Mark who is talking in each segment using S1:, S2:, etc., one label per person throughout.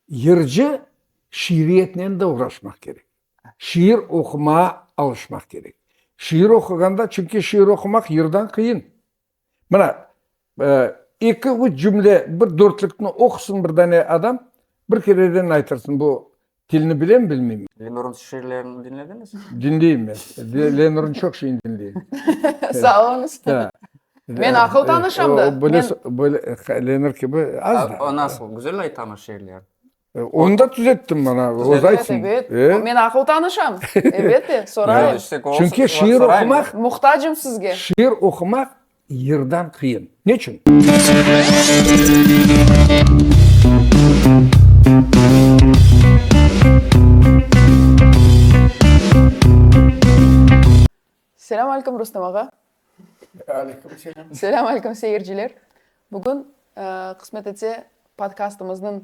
S1: Yırcı şiiriyetnen de uğraşmaq kerek. Şiir oqumağa alışmaq kerek. Şiir oquğanda, çünki şiir oqumaq yırdan qıyın. Mına, eki, üç cümle, bir dörtlükni oqusın bir dane adam, bir kereden aytırsın, bu Tilni bilem, bilmem. Lenurın
S2: şiirlerini diñlediñiz?
S1: Diñleyim men. Lenurın çoq şeyini diñleyim. Sağ oluñız.
S3: Men aqıl tanışam da.
S1: Lenur kibi az da. O nasıl? Güzel aytamı
S2: şiirler? Onı da
S1: tüzettim ben. Öz aytsın. Evet, evet.
S3: Men
S1: aqıl
S3: tanışam. Elbette, sorayım. Çünki şiir
S1: oqumaq. Muhtacım sizge.
S3: Şiir oqumaq
S1: Yırdan qıyın. Neçün?
S3: Selâm alâykum, Rustam ağa! Alâykum
S1: selâm! Selâm alâykum,
S3: seyirciler! Bugün, qısmet etse, podkastımıznıñ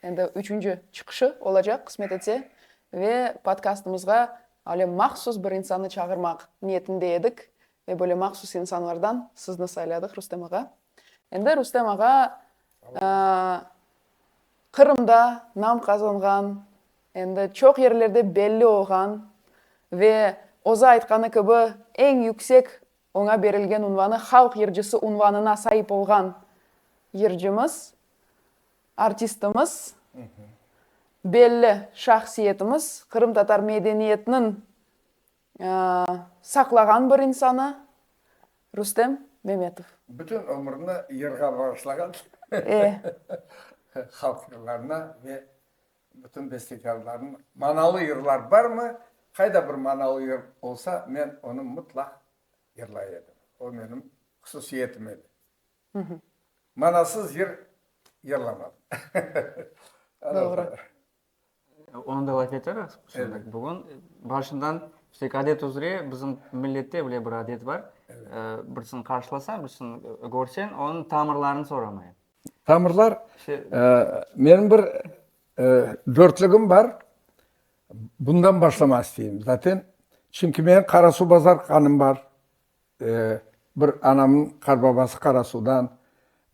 S3: endi üçünci çıqışı olacaq, qısmet etse, ve podkastımızğa öyle mahsus bir insannı çağırmaq niyetinde edik, Ve böyle mahsus insanlardan sizni sayladık, Rustem ağa. Endi Rustem ağa Qırımda nam qazanğan, endi çoq yerlerde belli olğan ve özü aytqanı kibi, eñ yüksek oña berilgen unvanı halq yırcısı unvanına saip olğan yırcımız, artistimiz, belli şahsiyetimiz, qırımtatar medeniyetiniñ saqlağan bir insanı, Rustem Memetov. Bütün ömrüni
S1: yırğa bağışlağan halq yırlarına ve bütün bestekârlarına. Manalı yırlar barmı? Qayda bir manalı yır olsa, men onı mıtlaq yırlay edim. O, menim hususiyetim edi. Manasız yır yırlamadım.
S3: Doğru.
S2: Onı da laf eterik şimdi, bugün. Başından işte adet üzre bizim millette böyle bir adet bar, birisini qarşılasañ, birisini körseñ, onıñ tamırlarını soramayıñ. Tamırlar,
S1: menim bir dörtlügim bar, bundan başlamaq isteyim zaten. Çünki menim Qarasuvbazar qanım bar. Bir anamnıñ qarbabası Qarasuvdan,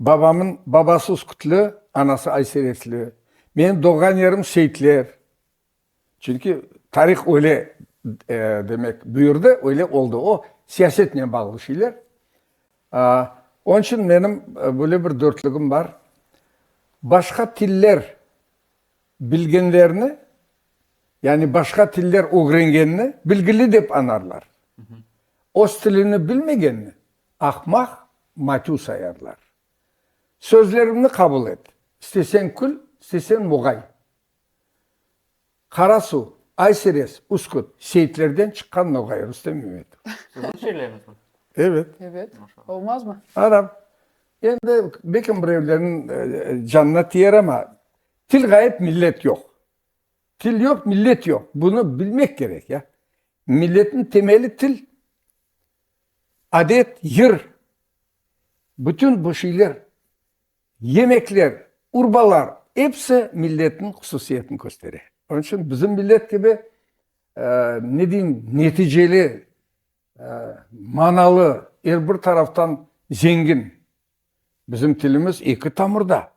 S1: babamnıñ babası Uskutlı, anası Ayseretli, menim doğğan yerim Seyitler. Çünki tarih öyle demek buyurdı, öyle oldı. O, siyasetnen bağlı şeyler. Onıñ içün menim böyle bir dörtlügim bar. Başqa tiller. Bilgenlerni, yani başqa tiller ögrengenni bilgili dep anarlar, öz tilini bilmegenni aqmaq, matü sayarlar. Sözlerimni qabul et, isteseñ kül, isteseñ muğay. Qara suv, ay seres, uskut, Seyitlerden çıqqan noğay, Rustem İmetov. Sizin şiirleriniz
S2: mi? Evet. Evet.
S3: Olmazmı? Aram.
S1: Endi bekim birevlerniñ canına tiyer, ama Til ğayıp, millet yoq. Til yoq, millet yoq. Bunı bilmek kerek, ya. Milletniñ temeli til, adet, yır. Bütün bu şeyler, yemekler, urbalar, episi milletniñ hususiyetini köstere. Onıñ içün bizim millet kibi, ne deyim, neticeli, manalı, er bir taraftan zengin bizim tilimiz eki tamırda.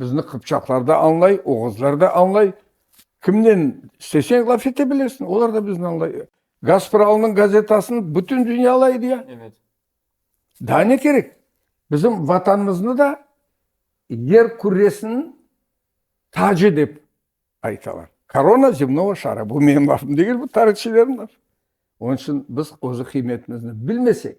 S1: Bizni qıpçaqlar da añlay, oğuzlar da añlay. Kimnen isteseñ laf ete bilirsiñ, olar da bizni añlay. Gaspralnıñ gazetasını bütün dünya alaydı ya.
S2: Daa
S1: ne kerek? Bizim Vatanımıznı da yer küresiniñ tacı dep aytalar. Korona zemnogo şara. Bu menim lafım degil, bu tarihçilerniñ lafı. Onıñ içün biz özü qıymetimizni bilmesek.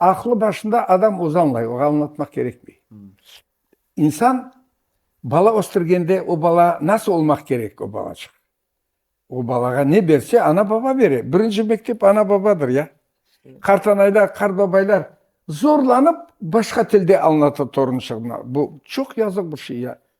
S1: Aqlı başında adam özü añlay, oña añlatmaq kerekmey. İnsan bala östürgende, o bala nasıl olmaq kerek, o balacıq? O balağa ne berse, ana-baba bere. Birinci mektep ana-babadır, ya. Qartanayda qartbabaylar zorlanıp başqa tilde añlata torunçığına. Bu çoq yazıq bir şey, ya.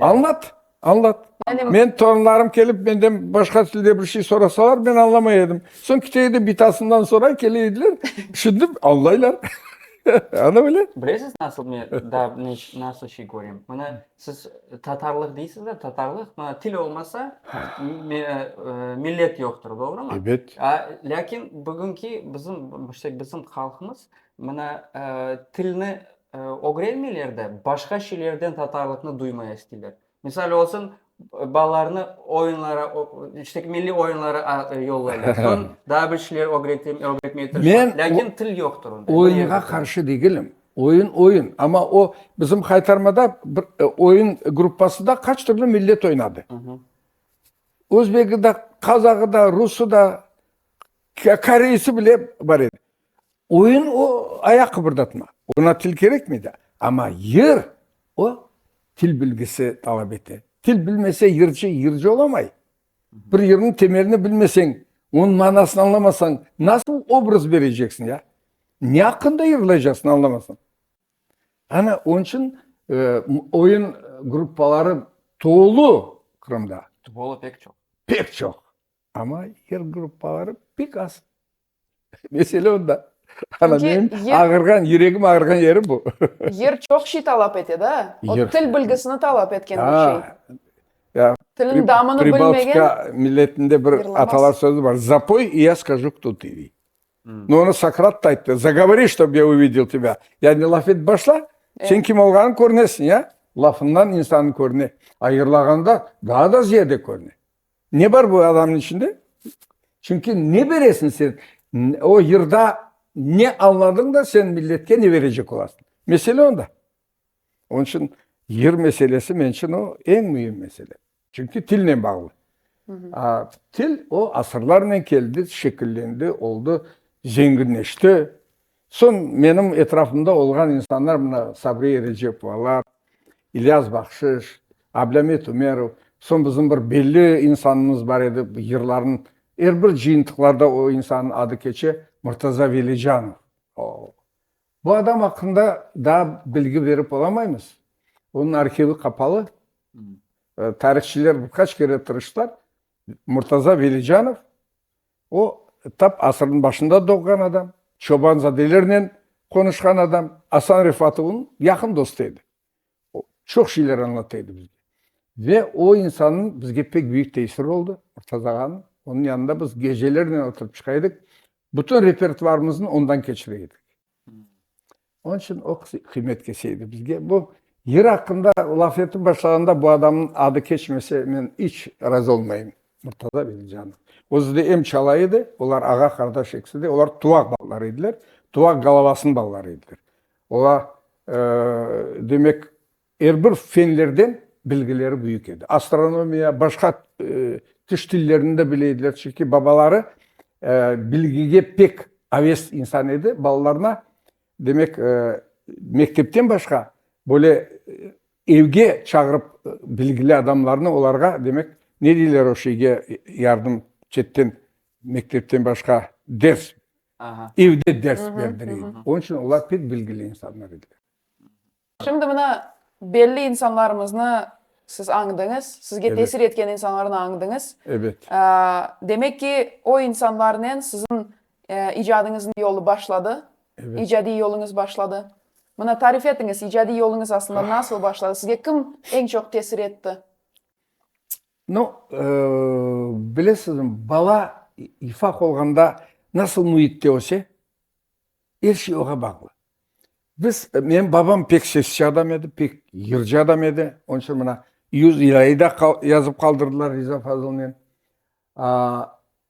S1: Añlat,
S2: añlat.
S1: Men torunlarım
S3: kelip,
S1: menden başqa tilde bir şey sorasalar, men añlamay edim. Soñ kite edi, bitasından soray, kele ediler, tüşündim, añlaylar. Ana böyle. Bilesiz, nasıl
S2: men daa nasıl şey körem? Mına, siz tatarlıq deysiz de, tatarlıq, mına, til olmasa, millet yoqtır, doğrumı? Ebet. Lâkin bugünki bizim, işte bizim halqımız, mına, tilni Ögrenmeyler de, başqa şeylerden tatarlıqnı duymay istiler. Misal olsun, balalarını oyunlara, işte, milliy oyunlara yollaylar. Soñ daa bir şeyler ögretmeye tırışalar. Lâkin til yoqtır onda. Oyunğa qarşı degilim.
S1: Oyun, oyun. Amma o, bizim Haytarmada bir oyun gruppası da qaç türlü millet oynadı. Özbegi de, Qazağı da, Rusı da, Koreysi bile bar edi. Oyun o, ayaq qıbırdatma. Oña til kerekmey de. Amma yır o, til bilgisi talap ete. Til bilmese yırcı, yırcı olamay. Bir yırnıñ temelini bilmeseñ, onıñ manasını añlamasañ, nasıl obraz bereceksiñ ya? Ne aqqında yırlaycaksıñ, añlamasañ? Ana, onıñ içün oyun gruppaları tolu Qırımda. Tolu pek çoq.
S2: Pek çoq.
S1: Amma yır gruppaları pek az. Mesele onda. Ana, menim ağırğan,
S3: yüregim
S1: ağırğan yeri bu. Yer çoq şey
S3: talap ete da. O til bilgisini talap etken bir şey. Ya,
S1: Tilin damını
S3: bilmegen. Pribaltika milletinde
S1: bir atalar sözü var.
S3: Zapöy,
S1: i ya skacu, kto tı, dey. No, onı Sokrat da ayttı. Zagovori, ştob ya uvidel tebâ. Yani laf etip başla, sen kim olğanıñ körünesiñ, ya. Lafından insan körüne. A yırlağanda daa da ziyade körüne. Ne bar bu adamnıñ içinde? Çünki ne beresiñ sen? O yırda ne añladıñ da sen milletke ne berecek olasıñ? Mesele onda. Onıñ içün yır meselesi, men içün o, eñ müim mesele. Çünki tilnen bağlı. Til, o asırlarnen keldi, şekillendi, oldı, zenginleşti. Soñ menim etrafımda olğan insanlar, mına, Sabriye Recepovalar, İlyas Bahşış, Ablamet Ümerov, soñ bizim bir belli insanımız bar edi, yırlarnıñ er bir cıyıntıqlarda o insannıñ adı keçe, Murtaza Velicanov. O, bu adam aqqında daa bilgi berip olamaymız, onıñ arhivi qapalı. Tarihçiler bir qaç kere tırıştılar, Murtaza Velicanov O, tap asırnıñ başında doğğan adam, çobanzadelernen qonuşqan adam. Asan Refat onıñ yaqın dostu edi. O, çoq şeyler añlatta edi bizge. Ve o insannıñ bizge pek büyük tesiri oldı, Murtaza ağanıñ. Onıñ yanında biz gecelernen oturıp çıqa edik, bütün repertuarımıznı ondan keçire edik. Onıñ içün o qız qıymet kese edi bizge. Bu yır aqqında laf etip başlağanda bu adamnıñ adı keçmese, men iç razı olmayım. Murtaza Velicijanov. Özü de em çala edi, olar ağa-qardaş ekisi de. Olar Tuvaq balaları ediler, Tuvaq Galavasınıñ balaları ediler. Olar, demek. Er bir fenlerden bilgileri büyük edi. Astronomiya, başqa tış tillerini de bile ediler, çünki babaları bilgige pek aves insan edi, balalarına, demek, mektepten başqa, böyle evge çağırıp bilgili adamlarnı olarğa, demek, ne deyler o şeyge, yardım, çetten, mektepten başqa ders, evde ders berdireydi. Onıñ içün olar pek bilgili insanlar ediler. Şimdi
S3: mına belli insanlarımıznı siz añdıñız, sizge tesir etken insanlarnı añdıñız.
S1: Demek
S3: ki, o insanlarnen siziñ icadıñıznıñ yolu başladı, icadiy
S1: yoluñız başladı.
S3: Mına tarif etiñiz, icadiy yoluñız aslında nasıl başladı, sizge kim eñ çoq tesir etti?
S1: No, bilesizmi, bala, ifaq olğanda nasıl müitte öse, Er şey oğa bağlı. Biz, menim babam pek sessiz adam edi, pek yırcı adam edi. Onıñ içün mına yüz lirayı da yazıp qaldırdılar Riza Fazılnen.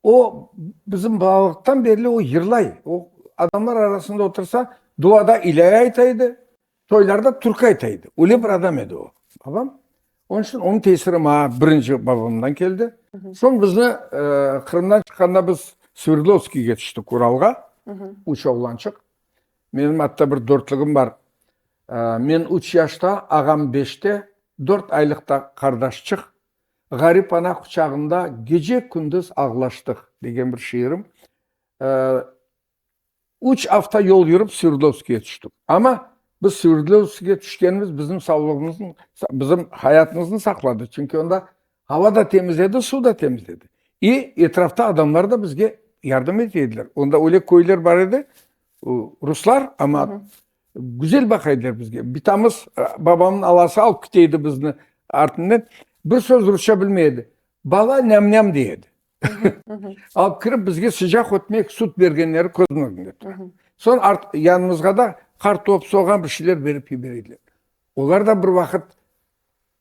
S1: O, bizim balalıqtan berli o yırlay. O, adamlar arasında otursa, duada ilâye ayta edi, Toylarda türkü ayta edi. Öyle bir adam edi o, babam. Onıñ içün onıñ tesiri maña birinci babamdan keldi. Soñ bizni Qırımdan çıqqanda biz Sverdlovskiyge tüştik Uralğa, üç oğlançıq. Menim atta bir dörtlügim bar. Men üç yaşta, ağam beşte, dört aylıq da qardaşçıq. Ğarip ana quçağında gece-kündüz ağlaştıq, degen bir şiirim Üç afta yol yürip Sverdlovskıya tüştik. Amma biz Sverdlovskıya tüşkenimiz bizim savlığımıznı, bizim hayatımıznı saqladı, çünki onda ava da temiz edi, suv da temiz edi. İ, etrafta adamlar da bizge yardım ete ediler. Onda öyle köyler bar edi, ruslar, amma güzel baqa ediler bizge. Bitamız, babamnıñ alası alıp kite edi bizni artından. Bir söz rusça bilmey edi. Bala, nyam-nyam dey edi. Alıp kirip bizge sıcaq ötmek, sut bergenleri közüm ögünde tura. Soñ yanımızğa da qartop, soğan bir şeyler berip kiber ediler. Olar da bir vaqıt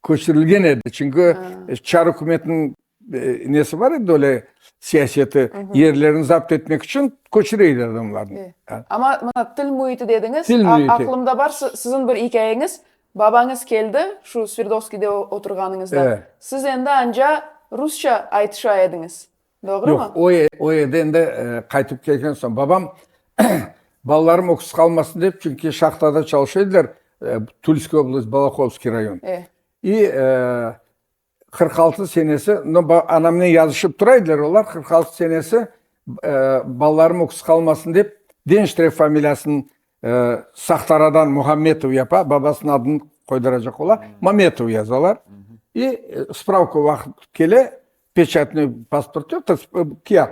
S1: köçürilgen edi. Çünki çar ükümetiniñ nesi bar edi, öyle siyaseti, yerlerini zapt etmek içün köçüre edi adamlarnı. Amma mına til
S3: müiti dediñiz, aqlımda
S1: bar siziñ
S3: bir ikâyeñiz, Babañız keldi, şu Sverdovskiyde oturğanıñızda, siz endi
S1: anca
S3: rusça aytışa ediñiz, doğrumı? Yoq, o
S1: yerden
S3: endi
S1: qaytıp kelgen soñ. Babam, balalarım öksüz qalmasın dep, çünki şahtada çalışa ediler, Tulskiy oblast, Balakovskiy rayon. İ, Qırq altı senesi, no, ba, anamnen yazışıp tura ediler olar, qırq altı senesi, e, balalarım öküz qalmasın dep, Denştrev familiyasın, e, Sahtaradan Muhammetov yapa, babasınıñ adını qoyduracaq ola, Mametov yazalar. İ, e, spravka vaqıt kele, pechatnöy pasport yoq, tas, e, kâğıt.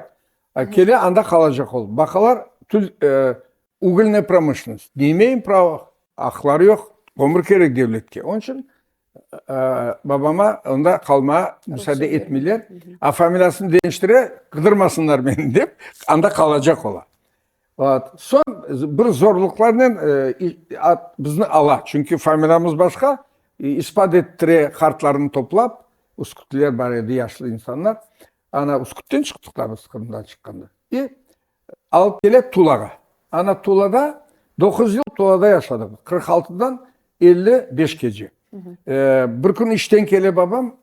S1: E, kele, anda qalacaq ol. Baqalar, tül, e, uglnıy promıshlennost, ne imeyim prava, aqları yoq, kömür kerek devletke. Onıñ içün Babama onda qalmağa müsaade etmeyler, a familiyasını deñiştire, qıdırmasınlar meni dep, anda qalacaq ola. Soñ bir zorluqlarnen bizni ala, çünki familiyamız başqa, ispat ettire, qartlarını toplap, üskütliler bar edi, yaşlı insanlar, ana, üskütten çıqtıq da biz, Qırımdan çıqqanda. Alıp kele Tulağa. Ana Tulağa doquz yıl Tulada yaşadıq. Qırq altıdan elli beşkece. Bir kün işten kele babam,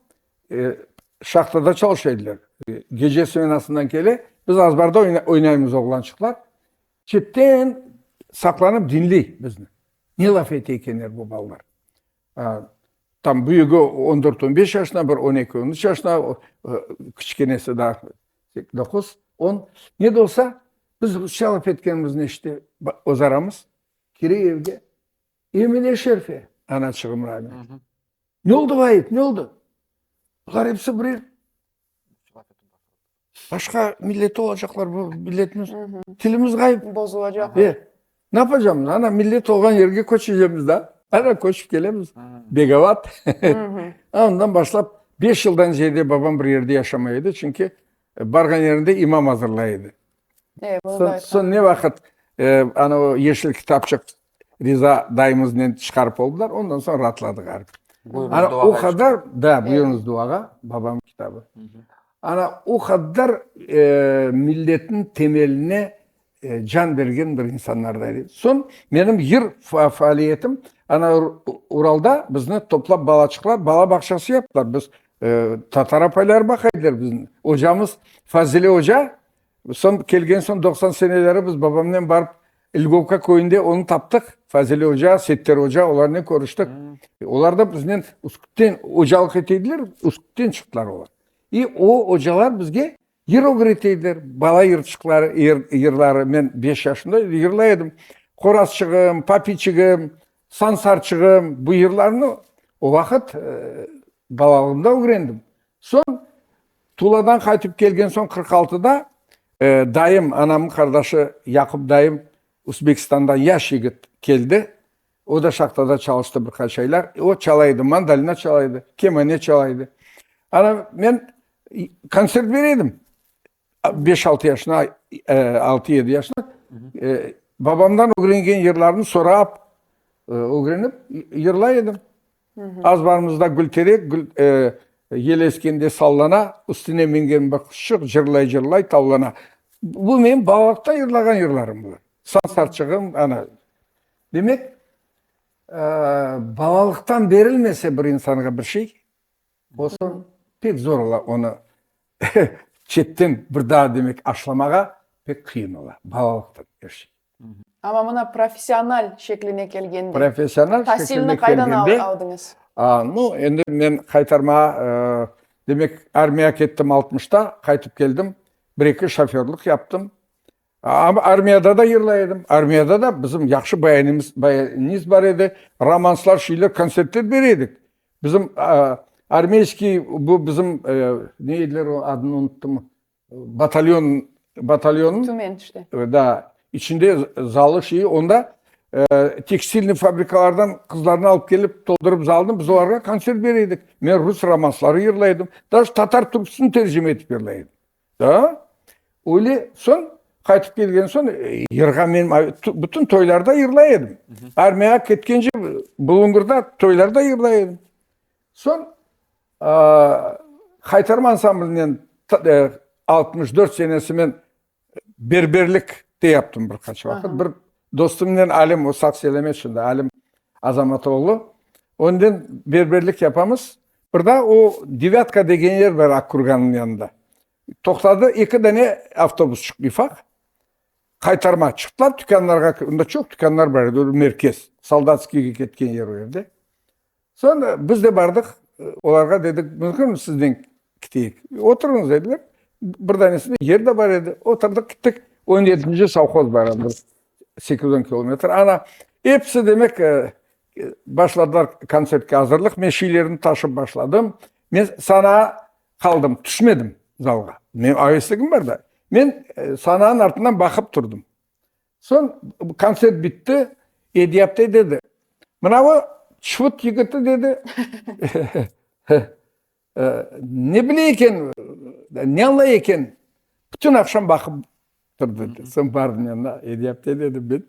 S1: şahtada çalışa ediler. Gece smenasından kele, biz azbarda oynaymız oğlançıqlar. Çetten saqlanıp diñley bizni. Ne laf ete ekenler bu balalar. Tam büyügi on dört, on beş yaşına, bir on eki, on üç yaşına, kiçikenesi daa doquz, on. Ne de olsa, biz rusça laf etkenimiz neşte öz aramız, kire evge, Emine şerife, anaçığım rahmetli, ne oldu, Vahit, ne oldu? Bular episi bir el. Başqa millet olacaqlar bu milletimiz. Tilimiz ğayıp. Bozulacaq. E,
S3: ne yapacağımız?
S1: Ana millet olğan yerge köçeceğimiz da. Ana köçip kelemiz. Begavat. Ondan başlap beş yıldan ziyade babam bir yerde yaşamay edi, çünki barğan yerinde imam azırlay edi. Soñ ne vaqıt ana o yeşil kitapçıq Riza dayımıznen çıqarıp oldılar, ondan soñ raatladıq arı. Ana o qadar, da, buyurıñız duağa, babam kitabı. Ana o qadar milletniñ temeline can bergen bir insanlardan edi. Soñ menim yır faaliyetim, ana Uralda bizni toplap balaçıqlar bala bağçası yaptılar. Biz Tatar apaylar baqay ediler bizni. Ocamız Fazile oca, Soñ, kelgen soñ, doqsan seneleri biz babamnen barıp İlgovka köyünde onı taptıq, Fazil oca, Settar oca, olarnen körüştik. Olar da biznen Üsküpten ocalıq eteydiler, Üsküpten çıqtılar olar. İ o ocalar bizge yır ögreteydiler, bala yırçıqları, yır, yırları. Men beş yaşımda edim, yırlay edim. Qorazçığım, Papiçigim, Sansarçığım, bu yırlarnı o vaqıt, ııı, balalığımda ögrendim. Soñ, Tuladan qaytıp kelgen soñ qırq altıda dayım, anamnıñ qardaşı Yaqup dayım Uzbekistandan yaş yigit keldi. O da şahtada çalıştı bir qaç aylar. O çalay edi, mandolina çalay edi, kemane çalay edi. Ana, men kontsert beray edim, beş altı yaşında, altı yedi yaşında. Babamdan ögrengen yırlarımnı sorap, ögrenip yırlay edim. Az barımızda gülterek, gül yel eskende sallana, üstüne mingen bir quşçuq cırlay-cırlay tavlana. Bu menim balalaqta yırlağan yırlarım bular. Sansarçığım, ana. Demek, balalıqtan berilmese bir insanğa bir şey, o soñ pek zor ola onı çetten bir daa demek aşlamağa pek qıyın ola. Balalıq Amma mına
S3: professional şekline kelgende, professional şekline
S1: kelgende,
S3: no, endi
S1: men qaytarmağa, demek, armiyağa kettim altmışta, qaytıp keldim, bir-eki şoförlıq yaptım. Amma armiyada da yırlay edim, armiyada da bizim yahşı bayanimiz bar edi, romanslar, şeyler, kontsertler beray edik. Bizim armiyskiy, bu bizim, ne ediler, adını unuttum, Batalyon, batalyonıñ. Tümen işte. Da,
S3: içinde
S1: zalı şeyi, onda tekstilniñ fabrikalardan qızlarnı alıp kelip, toldurıp zalnı, biz olarğa kontsert bere edik. Men rus romansları yırla edim. Dac, tatar türküsini tercime etip yırla edim. Da, öyle, soñ, qaytıp kelgen soñ, yırğa men bütün toylarda yırla edim. Armiyağa ketkence bulungırda toylarda yırla edim. Soñ Haytarım ansamblinen altmış dört senesi men berberlik de yaptım bir qaç vaqıt. Bir dostumnen Alim, o sağ selamet şimdi, Alim Azamatoğlu. Onden berberlik yapamız. Bir daa o Devâtka degen yer bar Akkurgannıñ yanında. Toqtadı, eki dane avtobus çıqtı ufaq, qaytarma. Çıqtılar tükânlarğa, onda çoq tükânlar bar edi, o merkez, Soldatskiyge ketken yer o yerde. Soñ biz de bardıq, olarğa dedik, mümkünmi sizden kiteyik? Oturıñız, dediler. Bir danesinde yer de bar edi. Oturdıq, gittik. On yedinci sovhoz bar edi, bir sekiz, on kilometr. Ana, episi, demek, başladılar kontsertke azırlıq. Men şiilerimni taşıp başladım. Men sanağa qaldım, tüşmedim zalğa. Menim avesligim bar da. Men sanağın artından baqıp turdım. Soñ kontsert bitti, Edyapte dedi, Mınavı çufut yigiti, dedi, ne bile eken, ne añlay eken, bütün aqşam baqıp tur, dedi. Soñ bardım yanına, Edyapte dedim, men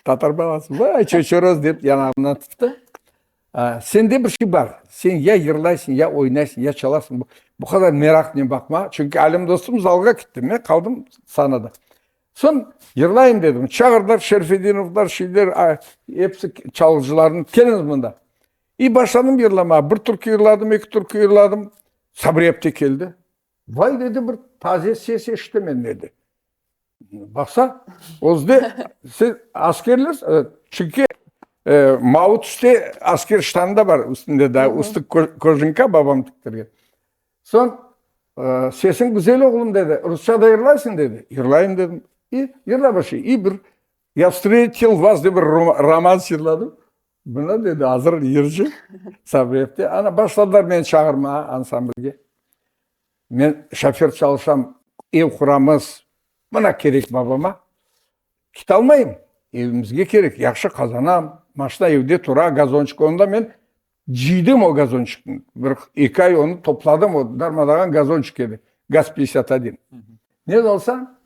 S1: tatar balası, vay, çoçoroz, dep yanağımdan tuttu. Sende bir şey bar, sen ya yırlaysıñ, ya oynaysıñ, ya çalasıñ, bu qadar meraqnen baqma, çünki Alem dostum zalğa kitti, men qaldım sahnada. Soñ yırlayım dedim. Çağırdılar, Şerfedinovlar, şeyler, episi çalğıcılarnı, keliñiz mında. İ, başladım yırlamağa. Bir türkü yırladım, eki türkü yırladım. Sabri apte keldi. Vay, dedi, bir taze ses eşitem men, dedi. Baqsa, özde, siz askerlersiz? Evet. Çünki mavı tüste asker ştanı da bar, üstünde daa üstü kojinka babam tiktirgen. Soñ, Sesiñ güzel, oğlum, dedi. Rusça da yırlaysıñ? dedi. Yırlayım, dedim. İ, yırla başlay. İ, bir Ya vstretil vas dep bir romans yırladım. Mına, dedi, azır yırcı Sabreevde. Ana, başladılar meni çağırmağa ansamblge. Men şofer çalışam, ev quramız. Mına kerek babama. Ketalmayım, evimizge kerek, yahşı qazanam, maşna evde tura, gazonçik. Onda men Cıydım o gazonçıknı, bir eki ay onı topladım, o darmadağan gazonçık edi, gaz peysyat adin. Ne de olsa,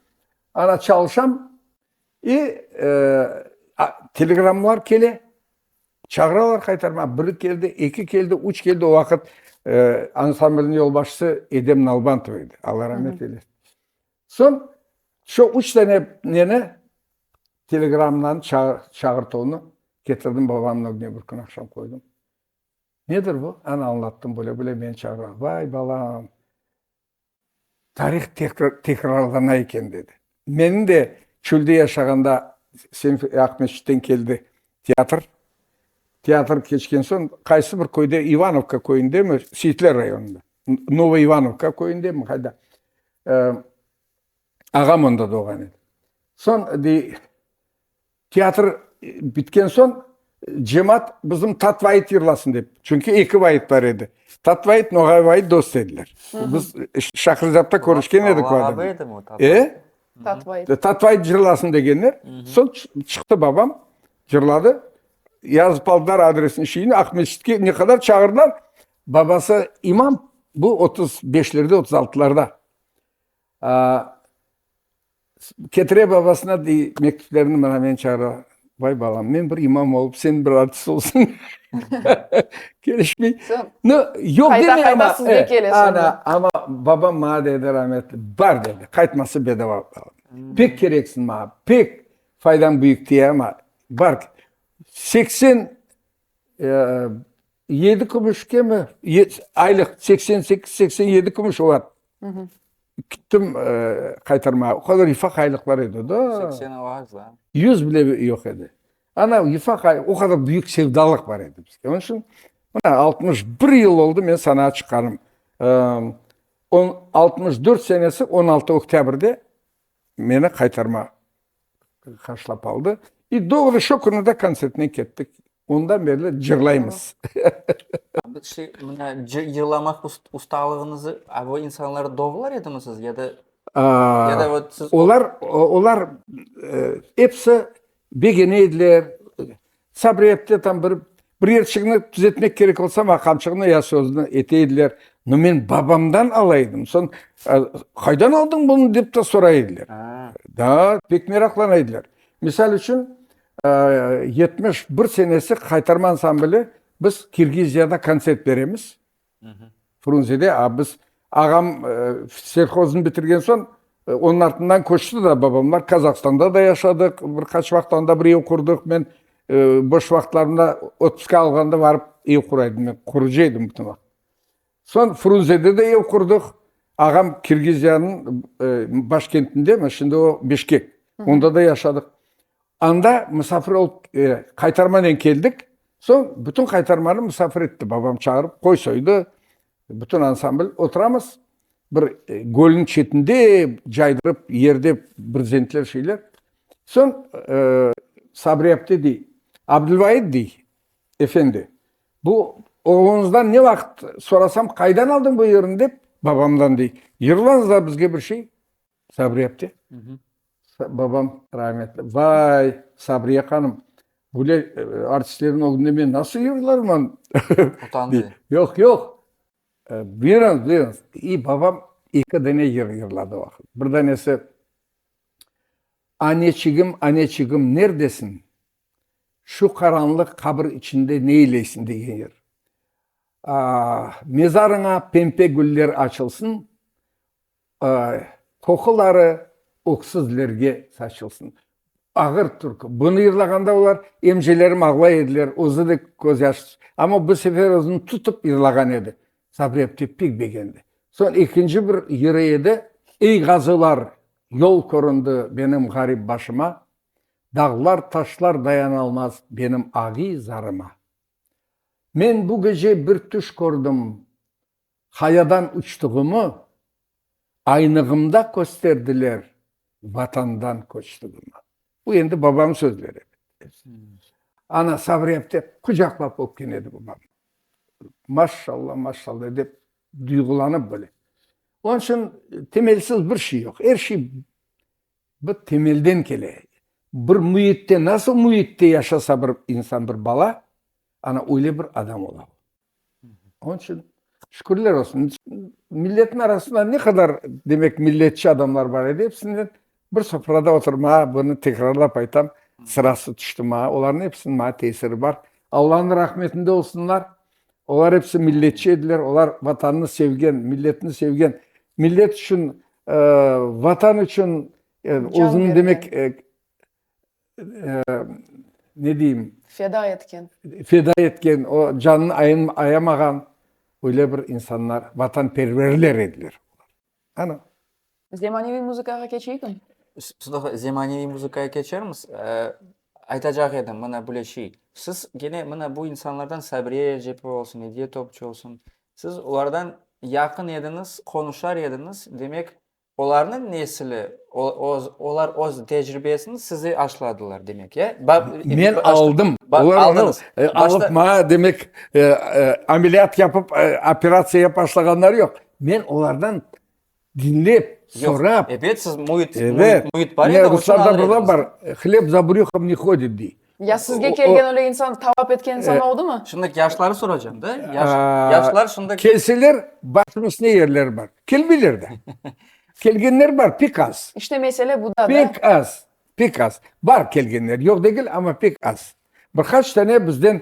S1: ana çalışam, i telegrammalar kele, çağıralar qaytarmağa, biri keldi, eki keldi, üç keldi, o vaqıt ansamblniñ yolbaşçısı Edem Nalbantov edi, Alla ramet eylesin. Soñ şu üç tane neni, telegramnıñ çağırtuvını ketirdim, babamnıñ ögüne bir kün aqşam qoydım. Nedir bu? Ana, añlattım, böyle-böyle meni çağıralar. Vay, balam, tarih tekrarlana eken, dedi. Menim de çölde yaşağanda Aqmescitten keldi teatr. Teatr keçken soñ, qaysı bir köyde, İvanovka köyündemi, Seyitler rayonında, Novoivanovka köyündemi, qayda, Ağam onda doğan edi. Soñ, dey, teatr bitken soñ, cemaat bizim tat vayıt yırlasın dep, çünki eki vayıt bar edi. Tat vayıt, Noğay vayıt dost ediler. Biz Şaqrızapta körüşken edik. Tat vayıt cırlasın degenler. Soñ çıqtı babam, cırladı. Yazıp aldılar adresini, şeyini, Aqmescitke ne qadar çağırdılar, Babası imam, bu otuz beşlerde, otuz altılarda, ketire babasına, dey, mektüplerini, mına meni çağıra, vay, balam, men bir imam olıp, sen bir artist olsam, kelişmey. Nı, yoq deme, amma. Qayta, qayta sizge kele soñra. Ana, amma babam maña dedi, rahmetli, bar dedi, qaytması bedava. Pek kereksiñ maña, pek faydañ büyük tiye, amma bar. Seksen Yedi kümüşkemi, aylıq seksen sekiz, seksen yedi kümüş olar. Kittim qaytarmağa, o qadar ifaq aylıqlar edi da. Seksen olar azda.
S2: Yüz bile yoq
S1: edi. Ana ifaq, o qadar büyük sevdalıq bar edi bizde. Onıñ içün, mına altmış bir yıl oldı men sanağa çıqqanım. Altmış dört senesi on altı oktâbrde meni qaytarmağa. qarşılap aldı. İ doğru şo künü de kontsertine kettik. Ondan berli cırlaymız. Bir
S2: şey, mına cırlamaq ustalığıñızı o insanları doğrular edimi siz ya da? Ya da o siz. Olar,
S1: olar episi begene ediler, Çabriyette tam bir bir yerçiğni tüzetmek kerek olsa, maña qamçığını ya sözüni ete ediler. No men babamdan ala edim. Soñ, Qaydan aldın bunı? dep de soray ediler. Daa, pek meraqlana ediler. Misal içün, yetmiş bir senesi qaytarmansan bile, biz Kirgiziyada kontsert beremiz. Frunzede abız, ağam selshoznı bitirgen soñ, onıñ artından köçti da babamlar. Kazahstanda da yaşadıq bir qaç vaqıt, anda bir ev qurdıq. Men boş vaqıtlarımda otpuska alğanda barıp ev qura edim. Men qurucı edim bütün vaqıt. Soñ Frunzede de ev qurdıq. Ağam Kirgiziyanıñ baş kentinde, mana şimdi o Bişkek, onda da yaşadıq. Anda musafir olıp, qaytarmanen keldik. Soñ bütün qaytarmanı musafir etti, babam çağırıp qoy soydı, bütün ansambl oturamız, bir gölniñ çetinde caydırıp yerde brzentler şeyler. Soñ Sabri apte dey, Abdülvait dey, efendi, bu oğluñızdan ne vaqıt sorasam, qaydan aldın bu yırnı dep, babamdan dey, yırlañız da bizge bir şey, Sabriye apte, babam rahmetli, vay, Sabriye hanım, böyle artistlerin ögünde men nasıl yırlarman? Utandı.
S2: Yoq, yoq,
S1: buyurıñız, buyurıñız. İ, babam eki dane yır yırladı o vaqıt. Bir danesi, Aneçigim, aneçigim, nerdesin? Şu qaranlıq qabır içinde neyleysin? degen yır. Mezarıña pempe güller açılsın. Qoquları öksüzlerge saçılsın. Ağır türkü. Bunı yırlağanda olar, emcilerim ağlay ediler, özü de közyaş. Amma bu sefer özüni tutıp yırlağan edi. Sabrepti pek begendi. Soñ ekinci bir yırı edi, Ey ğazılar, yol köründi benim ğarip başıma, Dağlar, taşlar dayanalmaz benim agiy zarıma. Men bu gece bir tüş kördim. Qayadan uçtuğımı aynığımda kösterdiler, Vatandan köçtüğimi. Bu endi babam sözleri. Ana Sabriyep dep qucaqlap öpken edi babam. Maşşalla, maşşalla dep duyğulanıp böyle. Onıñ içün temelsiz bir şey yoq. Er şey bir temelden kele. Bir müitte, nasıl müitte yaşasa bir insan, bir bala, ana öyle bir adam ola. Onıñ içün şükürler olsun, milletniñ arasında ne qadar, demek, milletçi adamlar bar edi, episinden bir sofrada oturmağa, bunı tekrarlap aytam, sırası tüşti maña. Olarnıñ episiniñ maña tesiri bar. Allanıñ rahmetinde olsunlar. Olar episi milletçi ediler, olar Vatanını sevgen, milletini sevgen, millet içün, Vatan içün özüniñ, demek, ne deyim, Feda etken. feda etken, o canını ayamağan öyle bir insanlar, vatanperverler ediler. Ana. Zemaneviy
S3: muzıkağa keçeyikmi? Sıdıqa,
S2: zemaneviy muzıkaya keçermiz. Aytacaq edim, mına bile şey, siz gene mına bu insanlardan Sabriye Recepova olsun, Ediye Topçu olsun, siz olardan yaqın ediñiz, qonuşar ediñiz, demek, Olarnıñ nesili, olar öz tecribesini size aşladılar, demek, ya? Men aldım,
S1: olar onı
S2: alıp maña,
S1: demek, ameliyat yapıp, operatsiya yapıp aşlağanları yoq. Men olardan diñlep, sorap. Ebet, siz müit,
S2: müit bar edi, onı alıp. Ruslarda bir
S1: laf bar, hleb za brühom ne hodit, dey. Ya sizge kelgen
S3: öyle insan, tavap etken insan oldumı? Şimdi yaşları soracağım
S2: da. Yaşlar şimdi... Kelseler, başım
S1: üstüne yerleri bar. Kelmeyler de. Kelgenler bar, pek az. İşte mesele bu da.
S3: Pek az, pek
S1: az. Bar kelgenler, yoq degil, amma pek az. Bir qaç tane bizden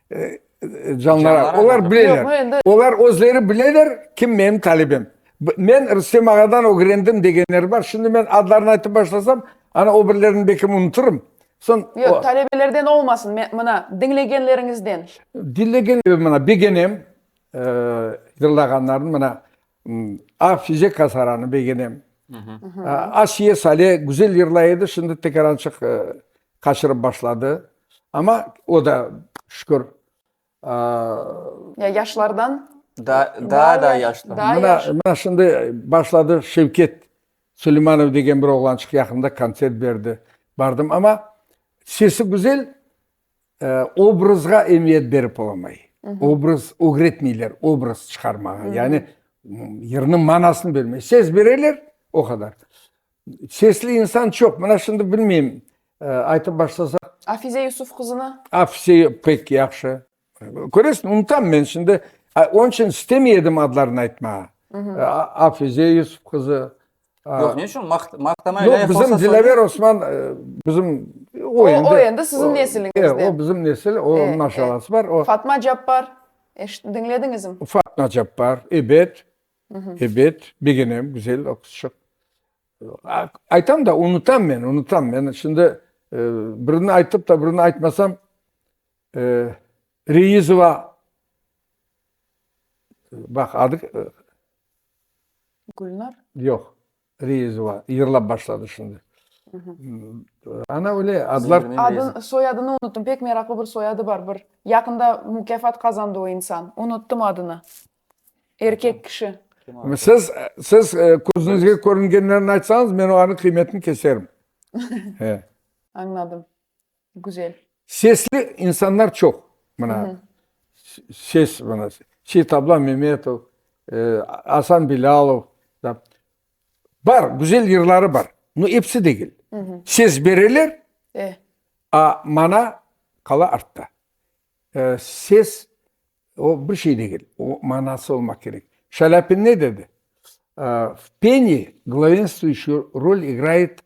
S1: Canlara, olar bileler, olar özleri
S3: bileler,
S1: kim menim talebem. Men Rustem ağadan ögrendim degenler bar, şimdi men adlarını aytıp başlasam, ana o birlerini belkim unutırım. Yoq, talebelerden
S3: olmasın, mına, diñlegenleriñizden. Diñlegenlerim,
S1: mına, begenem yırlağanlarını, mına. A, Fizeka Saranı begenem. Asiye Sale güzel yırlay edi, şimdi tekerançıq qaçırıp başladı. Amma o da şükür.
S3: Ya yaşlardan? Daa da
S2: yaşlı. Mına şimdi
S1: başladı Şevket Suleymanov degen bir oğlançıq yaqında kontsert berdi. Bardım, amma sesi güzel. Obrazğa emiyet berip olamay. Obraz ögretmeyler, obraz çıqarmağa. Yani yırnıñ manasını bermey. Ses bereler, o qadar. Sesli insan çoq. Mına şimdi bilmeyim, aytıp başlasam. Afize Yusuf
S3: qızını? Afize pek
S1: yahşı. Köresiñ, unutam men şimdi. Onıñ içün istemey edim adlarını aytmağa. Afize Yusuf qızı,
S2: Yoq, ne içün? Maqtama ile Yoq, bizim Dilâver
S1: Osman, bizim o endi. O
S3: endi sizin nesiliñizden. E, o bizim nesil, o
S1: onıñ aşağası bar. Fatma Cappar,
S3: diñlediñizmi? Fatma Cappar,
S1: ebet, ebet, begenem, güzel o qızçıq. Aytam da, unutam men, unutam. Men şimdi birini aytıp da, birini aytmasam, Reizova, baq, adı,
S3: Gülnar? Yoq,
S1: Reyizova yırlap başladı şimdi. Ana öyle adlar. Adın, soyadını
S3: unuttum, pek meraqlı bir soyadı bar, bir yaqında mukâfat qazandı o insan, unuttum adını, erkek kişi. Siz,
S1: siz közünizge körüngenlerini aytsañız, men olarnıñ qıymetini keserim. Añladım.
S3: Güzel. Sesli
S1: insanlar çoq, mına, ses, mına, Seit Ablam Memetov, Asan Bilalov, bar, güzel yırları bar, no episi degil. Ses bereler, a mana qala artta. Ses, o bir şey degil, o manası olmaq kerek. Şalâpin ne dedi? V peni glâvenstvuişuyu rol igrayet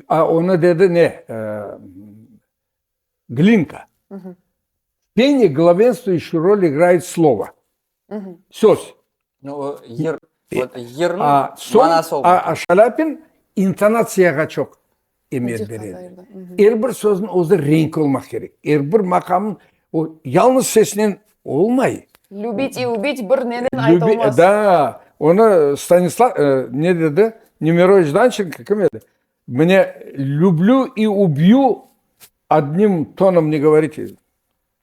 S1: A, onı dedi ne, Glinka. Peni glavoenstvuющuyu rol igrayet slovo, söz. No, o
S2: yer, yerniñ manası
S1: olmadı. A, soñ
S2: Şalâpin
S1: intonatsiyağa çoq emet beredi. Er bir sözniñ özü renk olmaq kerek. Er bir maqamnıñ, o yalnız sesinen Olmay. Lübit i ubit
S3: bir nenen aytılmaz. Da, onı
S1: Stanislav, ne dedi, Nemerovıç Dançenko, kim edi? Mine, lüblü i ubyu adnim tonom ne govorit edi.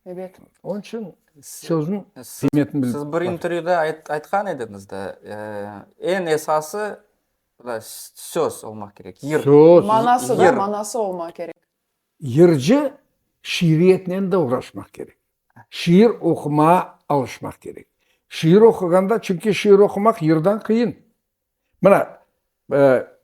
S1: Ebet.
S3: Onıñ içün
S1: sözün qıymetini bilmek. Siz bir intervyüda
S2: aytqan ediñiz da, eñ esası söz olmaq kerek, yır. Söz. Manası da,
S1: manası
S3: olmaq
S2: kerek.
S3: Yırcı
S1: şiiriyetnen de uğraşmaq kerek. Şiir oqumağa alışmaq kerek. Şiir oquğanda, çünki şiir oqumaq yırdan qıyın. Mına,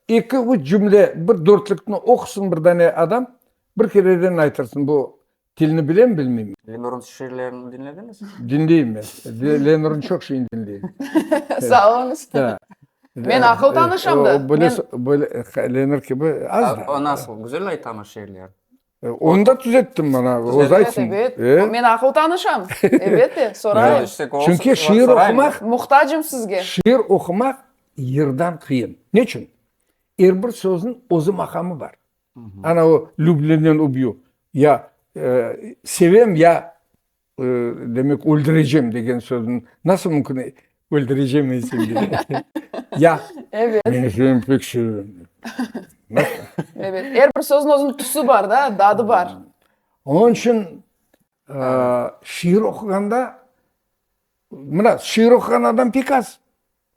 S1: eki, üç cümle, bir dörtlükni oqusın bir dane adam, bir kereden aytırsın, bu tilni bilemi, bilmeymi? Lenur'un
S2: şiirlerini diñlediñizmi?
S1: Diñleyim men. Lenur'un çoq şeyini diñleyim. Sağ oluñız.
S3: Men
S1: aqıl
S3: tanışam da. O böyle, böyle
S1: lenir kibi az da. O nasıl? Güzel aytamız
S2: şeerler. Onu da
S1: tüzettim ben abi. O zaten. Evet, evet.
S3: Men
S1: aqıl
S3: tanışam. Evet de, sorayım. Çünki şiir
S1: oqumaq. Muhtacım sizge.
S3: Şiir oqumaq
S1: yırdan qıyın. Ne içün? Er bir sözün özü maqamı bar. Ana o, lüblenen ubyu. Ya sevem, ya. Demek, öldürecem degen sözün nasıl mümkün öldürecem esimde. Ya. Evet. Meni
S3: sen pek
S1: seviyorum.
S3: Evet. Er bir sözün özün tüsü bar da, dadı bar. Onun için
S1: şiir oquganda mına şiir oqugan adam pek az.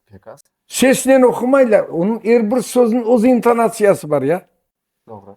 S1: Pek az.
S2: Sesinen oqumaylar.
S1: Onıñ er bir sözün öz intonatsiyası bar ya. Doğru.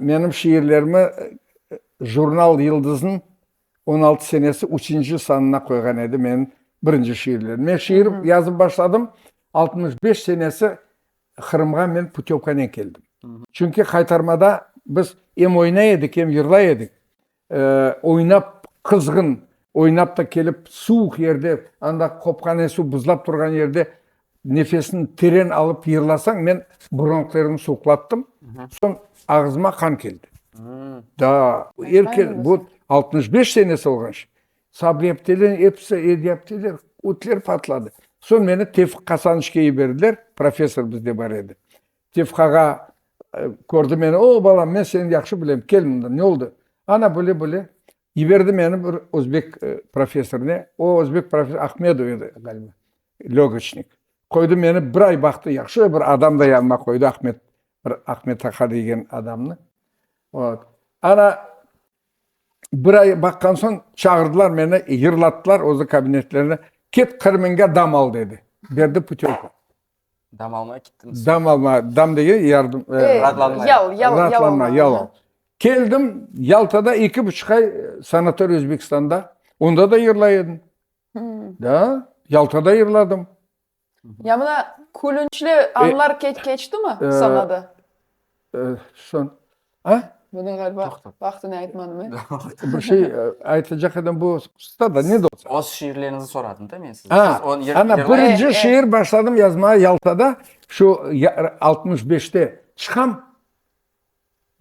S1: Menim şiirlerimi jurnal Yıldız'nıñ on altı senesi üçünci sanına qoyğan edi menim birinci şiirlerim. Men şiir yazıp başladım, altmış beş senesi Qırımğa men putevkanen keldim. Çünki qaytarmada biz em oynay edik, em yırlay edik. Oynap, qızğın oynap da kelip, suvuq yerde, anda qopqan esuv buzlap turğan yerde nefesini teren alıp yırlasañ, men bronhlarımı suvuqlattım, soñ ağızıma qan keldi. Da, er kel, bu altmış beş senesi olğan şey. Sabliyapteler, episi edyapteler, ötler patladı. Soñ meni Tevfiq Kasanıçke yiberdiler, professor bizde bar edi. Tefkağa kördi meni, o, balam, men seni yahşı bilem, kel mında, ne oldı? Ana, böyle, böyle. Yiberdi meni bir özbek professorına, o özbek professor Ahmedov edi ğaliba, lögoçnik. Qoydı meni, bir ay baqtı, yahşı bir adam da yanıma qoydı, Ahmet, bir Ahmet aqa degen adamnı. Ot. Ana, bir ay baqqan soñ çağırdılar meni, yırlattılar özü kabinetlerine, ket Qırımnğa dam al, dedi. Berdi putevka. Dam almay
S2: kettim. Dam alma, dam dege
S1: yardım, e, E, Rahatlanmay. yal, yal, yal
S2: rahatlanma, alma. yal al.
S1: Aha. Keldim, Yaltada eki buçuq ay e, sanatoriy Özbekistanda. Onda da yırlay edim. Hmm. Da, Yaltada yırladım. Ya mına
S3: külünçli anlar ke- keçtimi E, sanada?
S1: Bunı ğaliba
S3: vaqtına aytmadım, e? Bir şey
S1: aytacaq edim, bu qısta da, ne de olsa. Öz şiirleriñizni soradım
S2: da men sizden. Ha, ana,
S1: birinci şiir başladım yazmağa Yaltada, şu altmış beşte çıqam,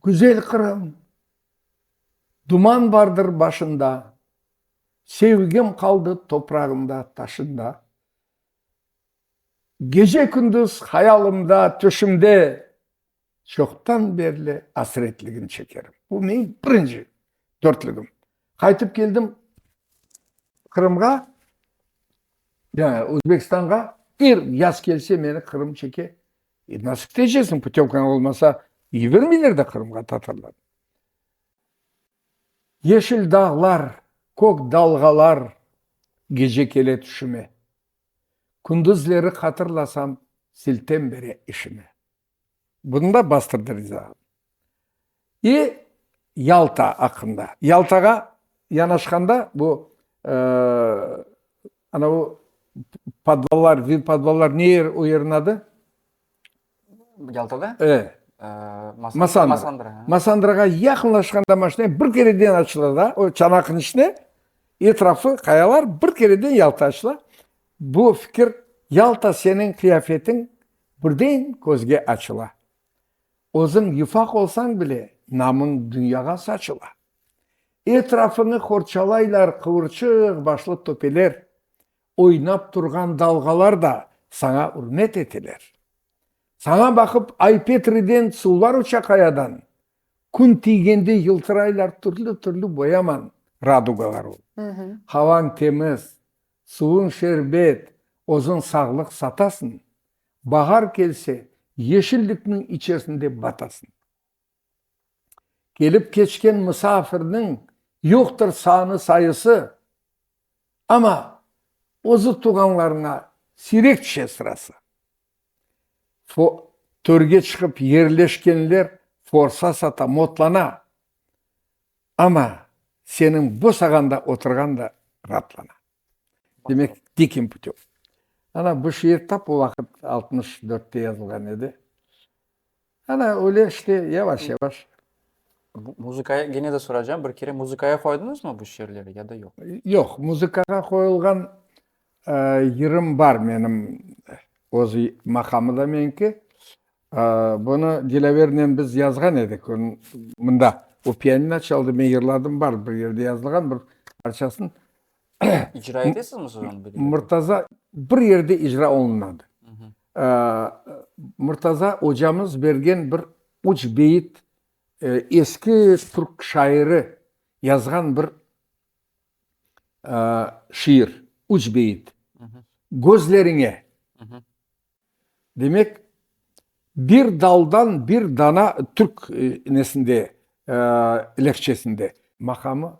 S1: Güzel Qırım, duman bardır başında, Sevgim qaldı toprağında, taşında. Gece-kündüz hayalımda, tüşümde çoqtan berli asretligin çekerim. Bu meñ birinci dörtlügim. Qaytıp keldim Qırımğa, yani Özbekistanğa. Er yaz kelse meni Qırım çeke. E, nasip tecesiñ, putevkañ olmasa, yibermeyler de Qırımğa tatarlar. Yeşil dağlar, kök dalğalar gece kele tüşüme. Kündüzleri hatırlasam, siltem bere işime. Bunda bastırdı rizağım. İ, Yalta aqqında. Yaltağa yanaşqanda bu, anavu, podvallar, vinpodvallar, ne yer o yeriñ adı? Yaltada?
S2: E,
S1: Masandra.
S2: Masandrağa
S1: yaqınlaşqanda maşinayı bir kereden açtılar da, o çanaqnıñ içine etrafı qayalar, bir kereden Yalta açtılar. Bu fikir, Yalta seniñ qıyafetiñ birden közge açıla. Özüñ yufaq olsañ bile, namıñ dünyağa saçıla. Etrafıñı qorçalaylar qıvırçıq başlı töpeler. Oynap turğan dalğalar da saña ürmet eteler. Saña baqıp Ay-Petriden suvlar uça qayadan, kün tiygende yıltıraylar türlü-türlü boyaman radugalar ol. Havañ temiz, suvuñ şerbet, özüñ sağlıq satasıñ, bahar kelse, yeşillikniñ içersinde batasıñ. Kelip keçken musafirniñ yoqtır sanı sayısı, amma özü tuğanlarına siyrek tüşe sırası. Fo, törge çıqıp yerleşkenler forsa sata, motlana, amma seniñ bosağanda oturğan da raatlana. Demek, Dikîm putêv. Ana, bu şiir tap o vaqıt altmış dörtte yazılğan edi. Ana, öyle işte, yavaş-yavaş.
S2: Muzıkaya, gene de soracağım, bir kere muzıkaya qoydıñızmı bu şiirleri ya da yoq? Yoq, muzıkağa
S1: qoyulğan yırım bar menim, öz maqamı da meniki. Bunı Dilâvernen biz yazğan edik, mında, o pianino çaldı, men yırladım, bar bir yerde yazılğan, bir parçasını.
S2: İcra etesizmi siz onı? Murtaza, bir
S1: yerde icra olunmadı. Murtaza ocamız bergen bir üç beyit, eski türk şairi yazğan bir şiir, üç beyit. Gözleriñe. Demek, bir daldan bir dana, türk nesinde, lehçesinde. Maqamı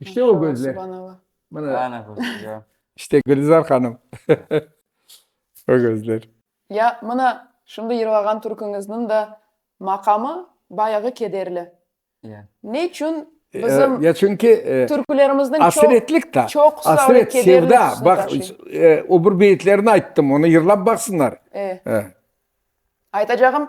S2: İşte o gözler. İşte Gülizar
S1: hanım. O gözler. Ya, mına,
S3: şimdi yırğağan türküñizniñ de maqamı bayağı kederli. Ne
S2: içün
S3: bizim
S1: türkülerimizniñ çoqusı
S3: böyle
S1: kederli tusını
S3: taşıy?
S1: Öbür
S3: beyitlerini
S1: ayttım, onı yırlap baqsınlar.
S3: Aytacağım,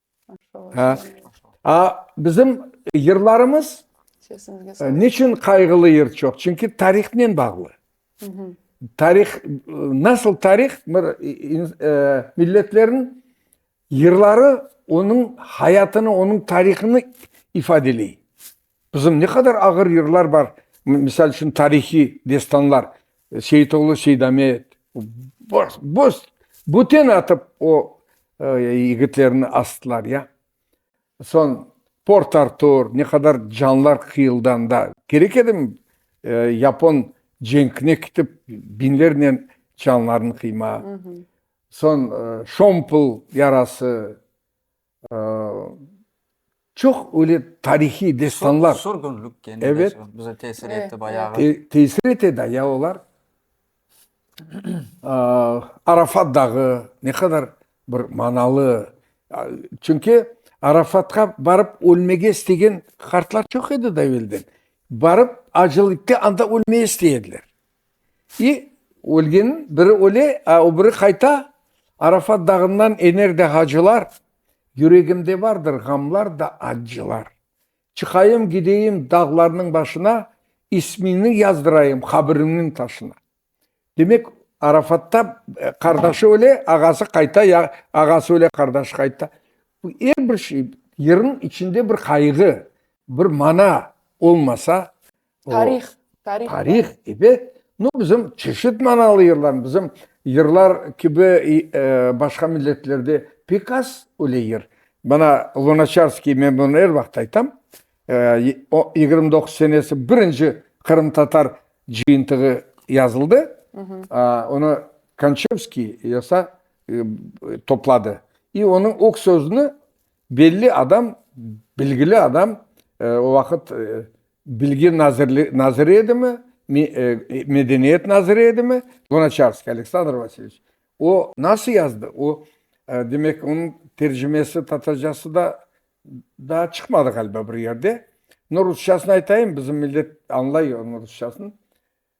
S1: Bizim yırlarımız
S3: niçün qayğılı yır
S1: çoq? Çünki tarihnen bağlı. Tarih, nasıl tarih? Bir milletlerin yırları onıñ hayatını, onıñ tarihini ifadeley. Qızım, ne qadar ağır yırlar bar, misal içün, tarihiy destanlar, Seyitoğlu Seydamet, bos-bos büten atıp o yigitlerni astılar, ya. Soñ Port Artur, ne qadar canlar qıyıldı anda. Kerek edimi yapon cenkine kitip biñlernen canlarnı qıymaq. Soñ Şompul yarası, Çoq öyle tarihiy destanlar. Sürgünlik kene de
S2: bize tesir
S1: etti
S2: bayağı.
S3: Tesir
S2: ete de
S1: ya olar. Arafat dağı ne qadar bir manalı. Çünki Arafatqa barıp ölmege istegen qartlar çoq edi de evelden. Barıp acılıkta anda ölmege istey ediler. İ, ölgeniñ biri öle, a o biri qayta, Arafat dağından ener de hacılar, Yüregimde vardır ğamlar da accılar. Çıqayım gideyim dağlarnıñ başına, İsmiñni yazdırayım qabriñniñ taşına. Demek, Arafatta qardaşı öle, ağası qayta, ya ağası öle, qardaşı qayta. Bu er bir şey, yırnıñ içinde bir qayğı, bir mana olmasa, Tarih,
S3: tarih. Tarih
S1: kibi, no, bizim çeşit manalı yırlarımız, bizim yırlar kibi başqa milletlerde pek az öyle yır. Bana Lunaçarskıy, men bunı er vaqıt aytam, yigirmi doquz senesi birinci qırımtatar cıyıntığı yazıldı, onı Kançevskiy yasa, topladı. İ onıñ o sözüni belli adam, bilgili adam, o vaqıt Bilgi naziri edimi, medeniyet naziri edimi? Lunaçarskiy Aleksandr Vasilyeviç. O nasıl yazdı? O, demek, onıñ tercimesi tatarcası da daa çıqmadı ğaliba bir yerde. Rusçasını aytayım, bizim millet añlay rusçasını.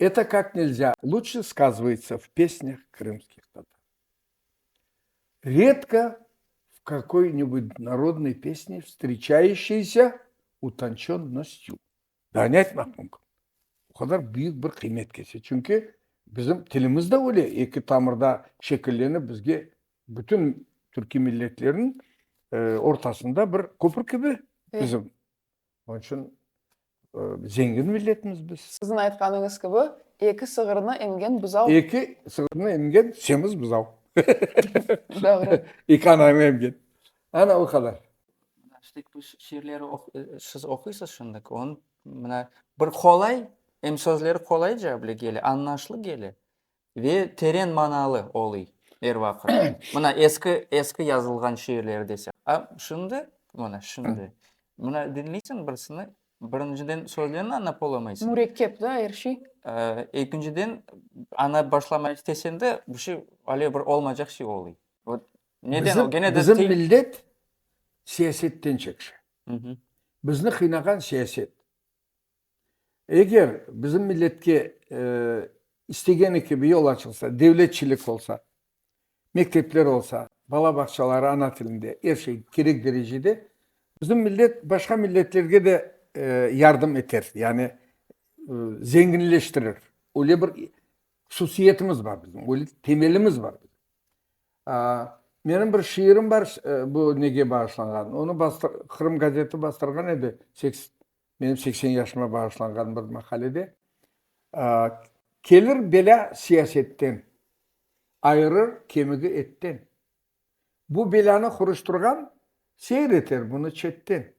S1: Eto kak nelzâ luçşe skazvaytsa v pesnâh krımskih tatar. Redko v kakoi-nibud narodnoi pesne vstriçaişeysâ utançennostiu. Daa ne aytmaq mümkün? O qadar büyük bir qıymet kese. Çünki bizim tilimiz de öyle, eki tamırda şekillenip bizge bütün türkiy milletlerniñ ortasında bir köpür kibi bizim. Onıñ içün zengin milletmiz biz. Siziñ aytqanıñız kibi,
S3: eki sığırnı emgen buzav. Eki sığırnı
S1: emgen semiz buzav.
S3: Doğru. Eki ananı
S1: emgen. Ana o qadar. Şimdi bu
S2: şiirleri siz oquysız şimdi. Onıñ mına bir qolay, em sözleri qolayca bile kele, añlaşlı kele. Ve teren manalı olıy er vaqıt. Mına eski, eski yazılğan şiirleri desem. A şimdi, mına şimdi, mına diñleysiñ birisini, birinciden sözlerini añlap olamaysıñ. Mürekkep da er şey.
S3: Ekinciden,
S2: añlap başlamaycı tesem de, bir şey, alâ bir olmaycaq şey olıy. Vot neden o, gene de. Bizim, bizim millet
S1: siyasetten çekşe.
S2: Bizni qıynağan
S1: siyaset. Eger bizim milletke istegeni kibi yol açılsa, devletçilik olsa, mektepler olsa, bala bağçaları ana tilinde, er şey kerek derecede, bizim millet başqa milletlerge de yardım eter, yani zenginleştirir. Öyle bir hususiyetimiz bar bizim, öyle temelimiz bar. Menim bir şiirim bar bu nege bağışlanğan, onı Qırım gazeti bastırğan edi. Menim seksen yaşıma bağışlanğan bir maqalede, Kelir belâ siyasetten, ayırır kemigi etten. Bu belânı qurıştırğan seyr eter bunı çetten.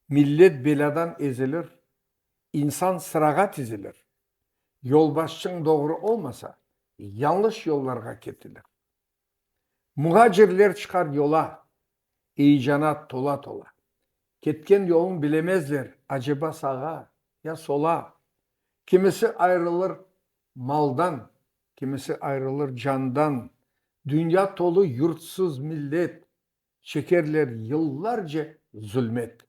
S1: Millet belâdan ezilir, insan sırağa tizilir. Yolbaşçıñ doğru olmasa, yanlış yollarğa ketilir. Muğacirler çıqar yola, eyecana tola-tola. Ketken yolun bilemezler, aceba sağa, ya sola. Kimisi ayrılır maldan, kimisi ayrılır candan. Dünya tolu yurtsuz millet, çekerler yıllarce zulmet.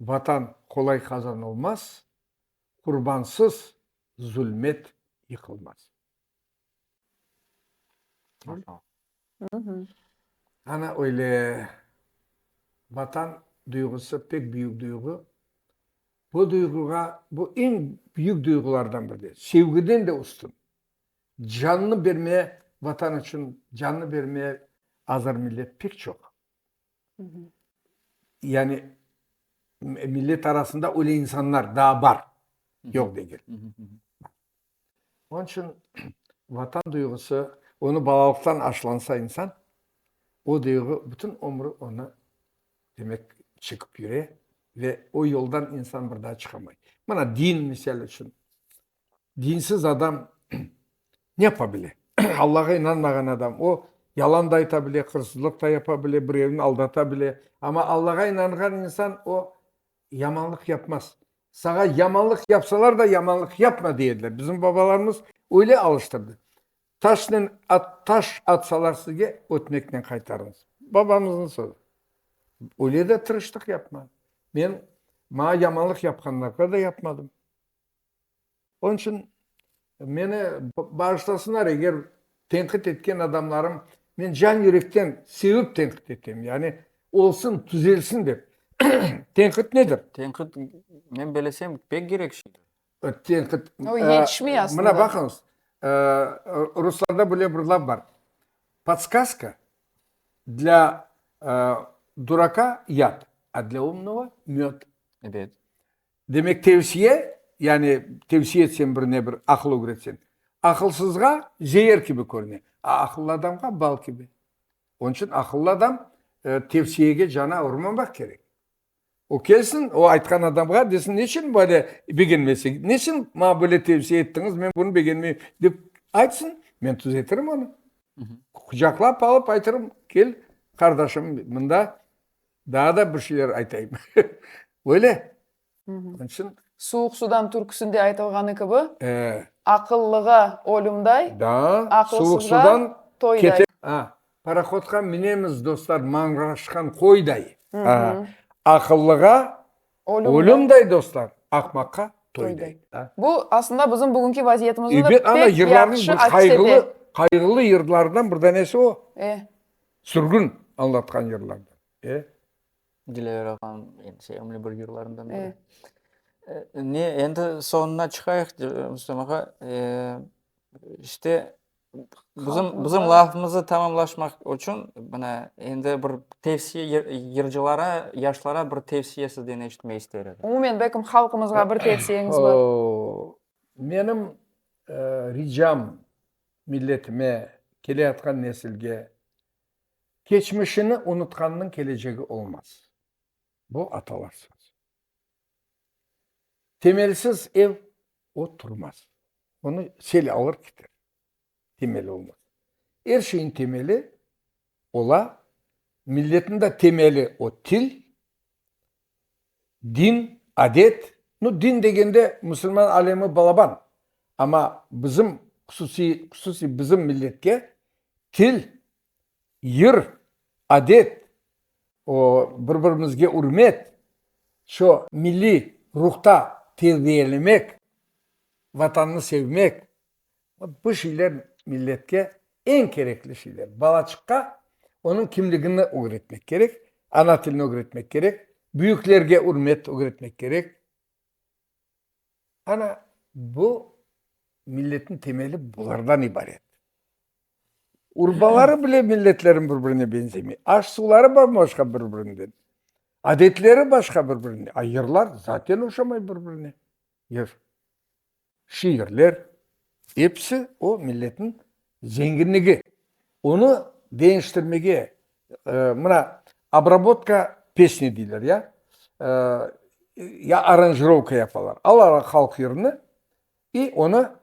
S1: Vatan qolay qazanılmaz, qurbansız zulmet yıqılmaz. Ana öyle Vatan duyğusı pek büyük duyğu. Bu duyğuğa, bu eñ büyük duyğulardan biri, sevgiden de üstün. Cannı bermeye, Vatan içün cannı bermeye azır millet pek çoq. Yani millet arasında öyle insanlar daa bar, yoq degil. Onıñ içün Vatan duyğusı, onı balalıqtan aşlansa insan, o duyğu bütün ömrü onı, demek, çekip yüre ve o yoldan insan bir daa çıqamay. Mına din, misal içün, Dinsiz adam ne yapa bile? Allağa inanmağan adam, o, yalan da ayta bile, hırsızlıq da yapa bile, birevni aldata bile. Amma Allağa inanğan insan, o, yamanlıq yapmaz. Saña yamanlıq yapsalar da, yamanlıq yapma dey ediler. Bizim babalarımız öyle alıştırdı. Taşnen, taş atsalar sizge, ötmeknen qaytarıñız. Babamıznıñ sözü. Öyle de tırışlıq yapma. Men, maña yamanlıq yapqanlarğa da yapmadım. Onıñ içün meni bağışlasınlar, eger tenqit etken adamlarım, men can-yürekten sevip tenqit etem, yani olsun, tüzelsin dep. Tenqit nedir? Tenqit,
S2: men belesem, pek kerek şeydir. Tenqit,
S3: mına baqıñız,
S1: ruslarda böyle bir laf bar, Podskaza dla duroka yad, a dla umnogo, med.
S2: Demek,
S1: tevsiye, yani tevsiye etsen birine bir aqıl ögretsen, aqılsızğa zeer kibi körüne, a aqıllı adamğa bal kibi. Onıñ içün aqıllı adam tevsiyege cana urmamaq kerek. O kelsin, o aytqan adamğa desin, neçün böyle begenmesek, neçün maña böyle tevsiye ettiñiz, men bunı begenmeyim, dep aytsın, men tuzetirim onı. Qucaqlap alıp aytarım, kel, qardaşım, mında. Daa da bir şeyler aytayım. Öyle. Onıñ içün. Suvuq sudan
S3: türküsinde aytılğanı kibi, aqıllığa ölümday,
S1: aqılsızğa toyday. Ha,
S3: parahodqa
S1: minemiz, dostlar, mañğaşqan qoyday. Aqıllığa ölümday, dostlar, aqmaqqa toyday. Bu, aslında,
S3: bizim bugünki vaziyetimizni da pek
S1: yahşı aks ete. Qayğılı yırlardan bir danesi o. Sürgün añlatqan yırlardan. E?
S2: Dilâver ağam endi sevimli bir yırlarından biri. E, ne, endi soñuna çıqayıq, Rustem ağa. E, işte bizim, bizim lafımızı tamamlaşmaq üçün, mına, endi bir tevsiye, yır, yırcılara, yaşlara bir tevsiye sizden eşitmek ister edik. Umumen, belkim halqımızğa
S3: bir tevsiyeñiz bar. Oo,
S1: menim e, ricam Milletime, keleyatqan nesilge, keçmişini unutqannıñ kelecegi olmaz. Bu atalar sözü. Temelsiz ev o turmaz. Onı sel alır keter, temeli olmasa. Er şeyiñ temeli ola, milletin de temeli o til. Din, adet, nu, din degende musulman alemi balaban, amma bizim, hususiy, hususiy bizim milletke til, yır, adet, o, bir-birimizge ürmet, şu milliy ruhta terbiyelemek, Vatanını sevmek, Bu şeyler milletke eñ kerekli şeyler. Balaçıqqa onıñ kimligini ögretmek kerek, ana tilini ögretmek kerek, büyüklerge ürmet ögretmek kerek. Ana bu milletniñ temeli bulardan ibaret. Urbaları bile milletlerniñ bir birine benzemey. Aş-suvları bam-başqa bir birinden. Adetleri başqa bir birinden. A yırlar zaten oşamay bir birine. Yır. şiirler, episi o milletniñ zenginligi. Onı deñiştirmege, mına, obrabotka pesni deyler, ya, ya aranjirovka yapalar. Alalar halq yırını i onı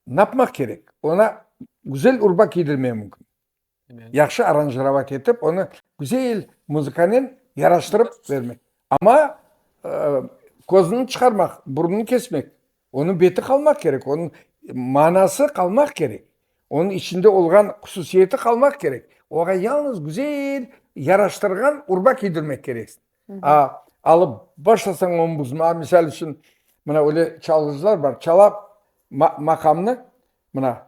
S1: napmaq kerek? Oña güzel urba kiydirmek mümkün. yahşı aranjirovat etip, onı güzel muzıkanen yaraştırıp bermek. Amma kozunı çıqarmaq, burnunı kesmek, onıñ beti qalmaq kerek, onıñ manası qalmaq kerek, onıñ içinde olğan hususiyeti qalmaq kerek. Oña yalnız güzel yaraştırğan urba kiydirmek kerek. Alıp başlasañ oñ buzma, misal içün, mına öyle çalğıcılar bar, çala maqamnı, mına,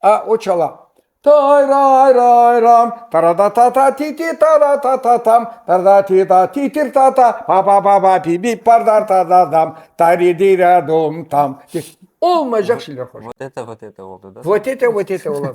S1: A, o çala. Tay-ray-ray-ram, tara-da-ta-ta, ti-ti, tara-ta-ta-tam, tara-da-ti-da, ti-tir-ta-ta, pa-pa-pa-pa, pi-pi, par-dar-tar-dar-dam, tari-di-ra-dum-tam. Olmaycaq şeyler qoştı. Vot ete, vot ete oldı da.
S2: Vot ete, vot ete ola.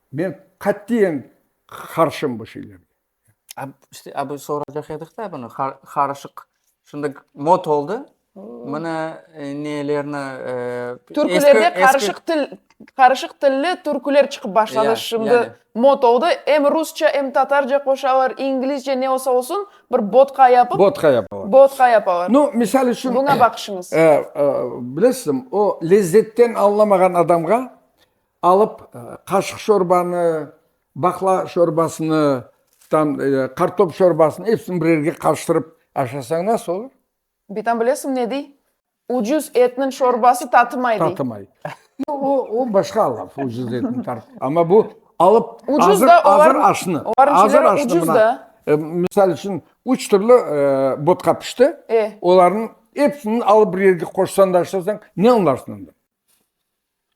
S1: Men qatiyen qarşım bu şeylerge. İşte,
S2: abi, soracaq edik da bunı, qarışıq. Şimdi mod oldı, mına nelerni, eee, Türkülerde
S3: qarışıq til, qarışıq tilli türküler çıqıp başladı şimdi. Mod oldı, em rusça, em tatarca qoşalar, inglizce, ne olsa olsun, bir bodka yapıp. Bodka yapalar. Bodka yapalar. Nu, misal içün. Buna
S1: baqışıñız.
S3: Bilesiz,
S1: o lezzetten añlamağan adamğa Alıp qaşıq şorbanı, baqla şorbasını, tam qartop şorbasını, epsini bir yerge qarıştırıp aşasañ nasıl olur? Bitam bilesim
S3: ne dey? Ucuz etniñ şorbası tatımay dey. Tatımay.
S1: O, o başqa laf, ucuz etniñ tar-. Amma bu alıp azır, azır
S3: aşnı,
S1: azır aşnı
S3: mına, misal içün,
S1: üç türlü botqa pişti, olarnıñ epsini alıp bir yerge qoşsañ da aşasañ, ne añlarsıñ ondan?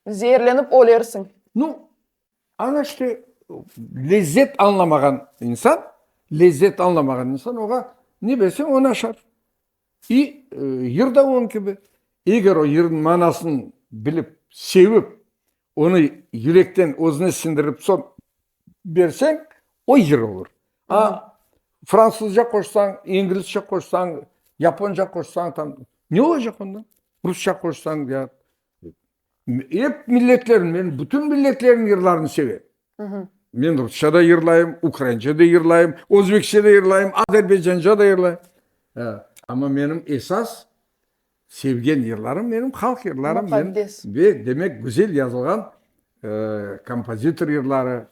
S3: Zeerlenip ölersiñ. Nu,
S1: aña işte, lezzet añlamağan insan, lezzet añlamağan insan oña ne berseñ, o naşar. İ, yır da oñ kibi. Eger o yırnıñ manasın bilip, sevip, onı yürekten özüne siñdirip soñ berseñ, o yır olur. A fransuzca qoşsañ, inglizce qoşsañ, yaponca qoşsañ, tam, ne olacaq ondan? Rusça qoşsañ, ya Ep milletlerni, men bütün milletlerniñ yırlarını sevem. Men rusça da yırlayım, ukraince de yırlayım, özbekçe de yırlayım, azerbaycance da yırlayım. Amma menim esas sevgen yırlarım, menim halq yırlarım. Muqaddes. Ve
S3: demek, güzel
S1: yazılğan kompozitor yırları,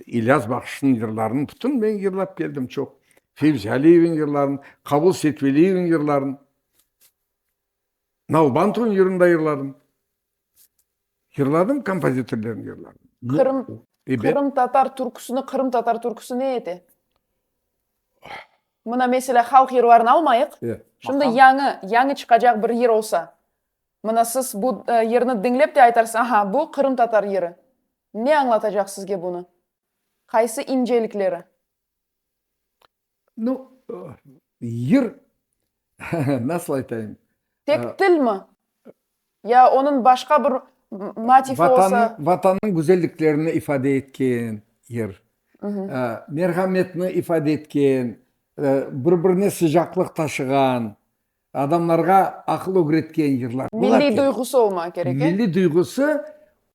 S1: İlyas Bakışnıñ yırlarını bütün men yırlap keldim çoq. Fevzi Aliyeviñ yırlarını, Qabul Setveliyevniñ yırlarını. Nalbant ruñ yırında yırladım. Yırladım, kompozitorlerni yırladım. Qırım, Qırım tatar
S3: türküsini, Qırım tatar türküsi ne edi? Mına, meselâ, halq yırlarını almayıq. Şimdi yañı, yañı çıqacaq bir yır olsa, mına, siz bu yırnı diñlep de aytarsız, aha, bu Qırım tatar yırı. Ne añlatacaq sizge bunı? Qaysı incelikleri?
S1: No, yır, nasıl aytayım? Tek til mi?
S3: Ya onıñ başqa bir motifi olsa? Vatannıñ güzelliklerini
S1: ifade etken yır, merhametni ifade etken, bir-birine sıcaqlıq taşığan, adamlarğa aqıl ögretken yırlar. Milliy duyğusı
S3: olmağa kerek, e? Milliy duyğusı,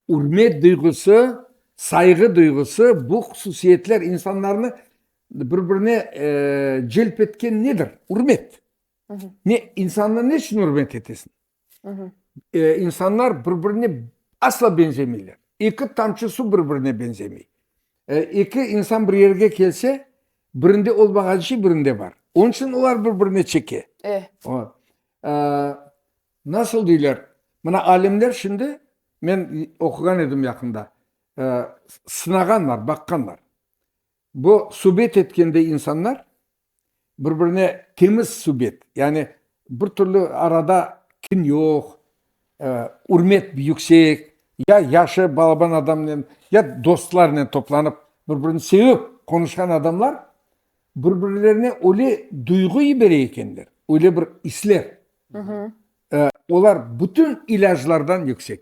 S1: ürmet duyğusı, sayğı duyğusı, bu hususiyetler insanlarnı Bir-birine celp etken nedir? Ürmet. Ne, insannı ne içün ürmet etesiñ? İnsanlar bir-birine asla beñzemeyler. Eki tamçı suv bir-birine beñzemey. Eki insan bir yerge kelse, birinde olmağan şey birinde bar. Onıñ içün olar bir-birine çeke. Nasıl deyler, mına alimler şimdi, men oquğan edim yaqında, sınağanlar, baqqanlar. Bu subet etkende insanlar bir-birine temiz subet, yani bir türlü arada kin yoq, ürmet yüksek, ya yaşı balaban adamnen, ya dostlarnen toplanıp, bir-birini sevip qonuşqan adamlar bir-birlerine öyle duyğu yibere ekenler, öyle bir isler, olar bütün ilâclardan yüksek.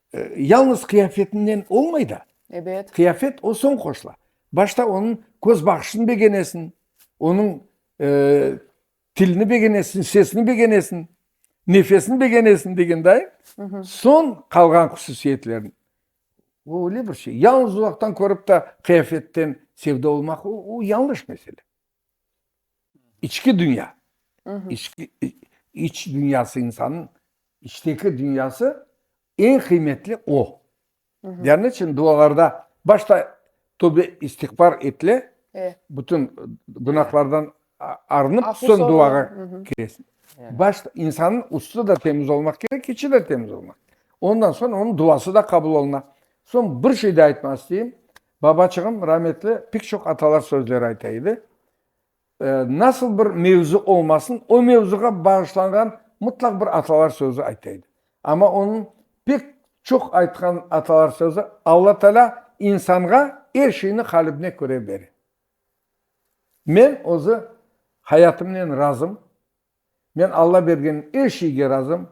S1: Yalnız qıyafetinden olmay da. Ebet. Qıyafet
S3: o soñ
S1: qoşula. Başta onıñ köz baqışını begenesiñ, onıñ tilini begenesiñ, sesini begenesiñ, nefesini begenesiñ degenday, soñ qalğan hususiyetlerini. O öyle bir şey. Yalnız uzaqtan körip de qıyafetten sevda olmaq, o yanlış mesele. İçki dünya, iç dünyası insanın içteki dünyası en qıymetli o. Dâ ne için dualarda başta tövbe istiğfar etle, bütün günahlardan arınıp soñ duağa kiresiñ. Başta insanın üstü de temiz olmaq kerek, içi de temiz olmaq. Ondan soñ onıñ duası da qabul oluna. Soñ bir şey da aytmaq isteyim, Babaçığım rametli pek çoq atalar sözleri ayta edi. Nasıl bir mevzu olmasın, o mevzuğa bağışlanğan mıtlaq bir atalar sözü ayta edi. Amma onıñ pek çoq aytqan atalar sözü, Alla Taalâ insanğa er şeyni qalibine köre bere. Men özü hayatımnen razım. Men Alla bergen er şeyge razım.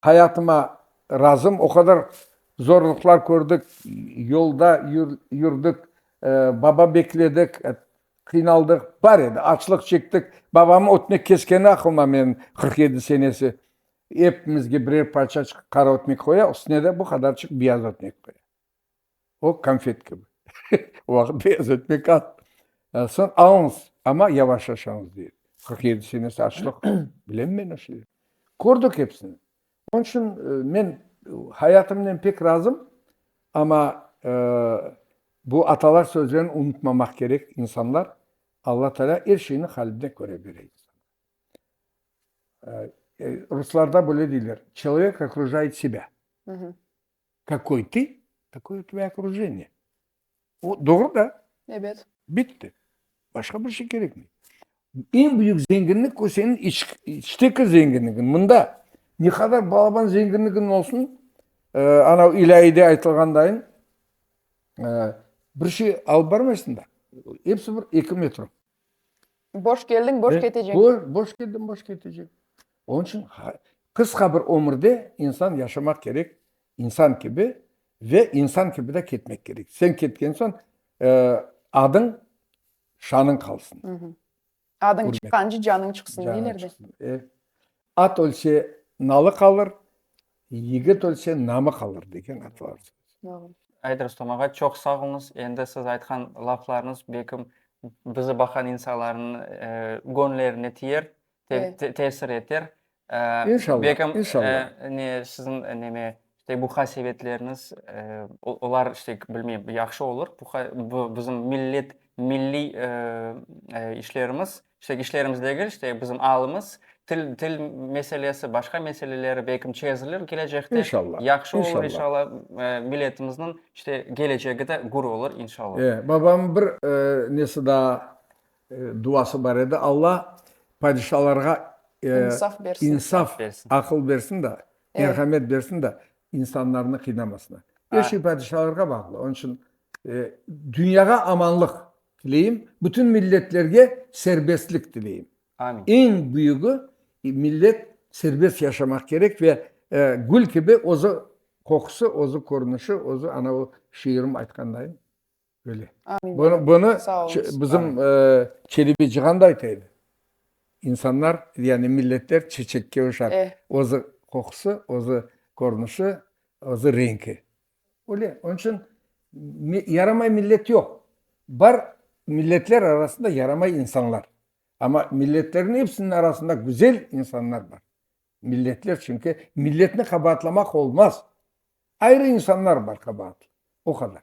S1: Hayatıma razım, o qadar zorluqlar kördik, yolda yürdik, baba bekledik, qıynaldıq, bar edi, açlıq çektik. Babamnıñ ötmek keskeni aqlıma menim, qırq yedi senesi. Epimizge birer parçaçıq qara ötmek qoya, üstüne de bu qadarçıq biyaz ötmek qoya. O konfet kibi. Vaqıt beyaz etmek az. Soñ alıñız, amma yavaş aşañız, dey. Qırq yedi senesi açlıq. Bilem men o şeylerni. Kördik episini. Onıñ içün men hayatımnen pek razım, amma bu atalar sözlerini unutmamaq kerek, insanlar. Alla Taalâ er şeyni haline köre bere. Ruslarda böyle deyler, Çelovek okrujayıt sebâ.
S3: Kakoy tı,
S1: takoy tvoye okrujeniye. O doğru da. Ebet. Bitti. Başqa bir şey kerekmey. Eñ büyük zenginlik o seniñ içteki zenginligiñ. Mında ne qadar balaban zenginligiñ olsun, anav ilâyide aytılğandayın, bir şey alıp barmaysıñ da. Episi bir eki metro. Boş
S3: keldiñ, boş ketecek. Boş, boş keldim, boş
S1: ketecek. Onun içün qısqa bir ömürde insan yaşamaq kerek insan kibi ve insan kibi de ketmek kerek. Sen ketken soñ adıñ, şanıñ qalsın. Adıñ
S3: çıqqancı canıñ
S1: çıqsın,
S3: deyler de.
S1: At ölse, nalı qalır, yigit ölse, namı qalır, degen atalar sözü. Doğru. Ait
S3: Rustam ağa,
S2: çoq sağ oluñız. Endi siz aytqan laflarıñız, belkim, bizi baqan insanlarnıñ göñlerine tiyer, tesir
S3: eter.
S2: İnşallah,
S1: belkim,
S2: ne,
S1: siziñ,
S2: neme, işte, bu hasebetleriniz, olar, işte, bilmeyim, yahşı olur. Bu, bizim millet, milliy işlerimiz. İşte işlerimiz degil, işte bizim alımız, til, til meselesi, başqa meseleleri belkim çezilir kelecekte. İnşallah. Yahşı olur İnşallah.
S1: inşallah.
S2: Eee,
S1: milletimizniñ
S2: işte gelecegi de gür olur inşallah. Eee, babamnıñ bir,
S1: eee, nesi daa, eee, duası bar edi, Alla padişalarğa, eee, İnsaf
S3: bersin. insaf, Bersin. aqıl
S1: bersin
S2: da,
S1: Evet. merhamet bersin da, insanlarnı qıynamasınlar. Her Aa. şey padişalarğa bağlı. Onıñ içün, eee, dünyağa amanlıq. Tileyim, bütün milletlerge serbestlik tileyim. Amin. Eñ
S2: büyügi,
S1: millet serbest yaşamaq kerek ve gül kibi özü qoqusı, özü körünişi, özü ana o şiirim aytqanday öyle. Amin. Bunı, bunı bizim Çelebi Cihan da ayta edi. İnsanlar, yani milletler çeçekke oşar. Özü qoqusı, özü körünişi, özü renki. Öyle, onıñ içün yaramay millet yoq. Bar milletler arasında yaramay insanlar. Amma milletlerniñ epsiniñ arasında güzel insanlar bar. Milletler, çünki milletni qabaatlamaq olmaz. Ayrı insanlar bar qabaatlı, o qadar.